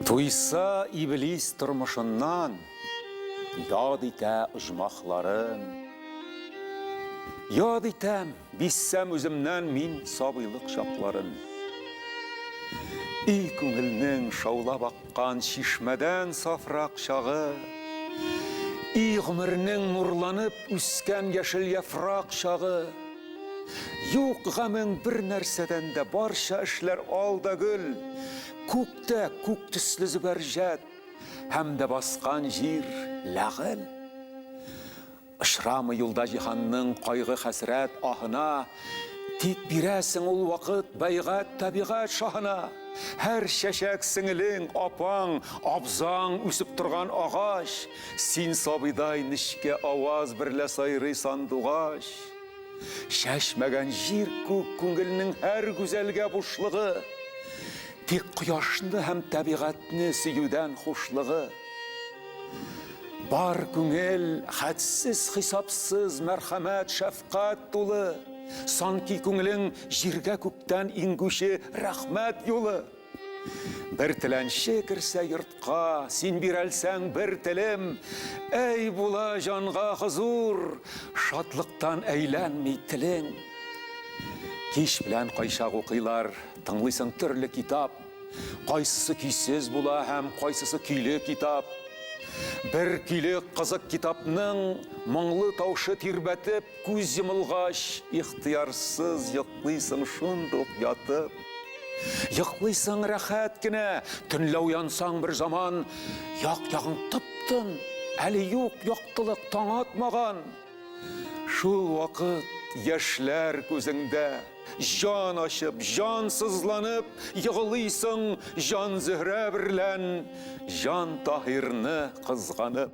Туйса иблис тормышыннан, Яд итә оҗмахларын. Яд итәм, биссәм үземнән Мин сабыйлык чакларын. И күңелнең шаулап Кан чишмәдән сафрак чагы. И гомернең нурланып үскән яшел яфрак чагы. Юк гамең бер нәрсәдән дә, барча эшләр ал да гөл. Күктә күк төсле зөбәрҗәт һәм дә баскан җир ләгыль. Очрамый юлда җиһанның кайгы-хәсрәт аһына, Тик бирәсең ул вакыт бәйгать табигать шаһына. Һәр чәчәк сеңелең, апаң, абзаң үсеп торган агач, Син сабыйдай нечкә аваз берлә сайрый сандугач. Чәчмәгән җир-күк күңелнең һәр гүзәлгә бушлыгы, Тик кояшны һәм табигатьне сөюдән хушлыгы. Бар күңел хәтсез хисапсыз мәрхәмәт, шәфкать тулы. Санки күңелең җиргә күктән иңгүче рәхмәт юлы. Бер теләнче керсә йортка, син бирәлсәң бер телем, әй була җанга хозур, шатлыктан әйләнми телең. Кич белән кайчак укыйлар, тыңлыйсың төрле китап. Кайсысы көйсез була һәм кайсысы көйле китап? Бер көйле кызык китапның моңлы таушы тирбәтеп, күз йомылгач, ихтыярсыз йоклыйсың шундук ятып. Йоклыйсың рәхәт кенә, төнлә уянсаң бер заман, як-ягың тып-тын, әле юк яктылык таң атмаган. Шул вакыт яшьләр күзеңдә. Җан ачып, җан сызланып егылыйсың җан Зөһрә берлән, җан Таһирны кызганып.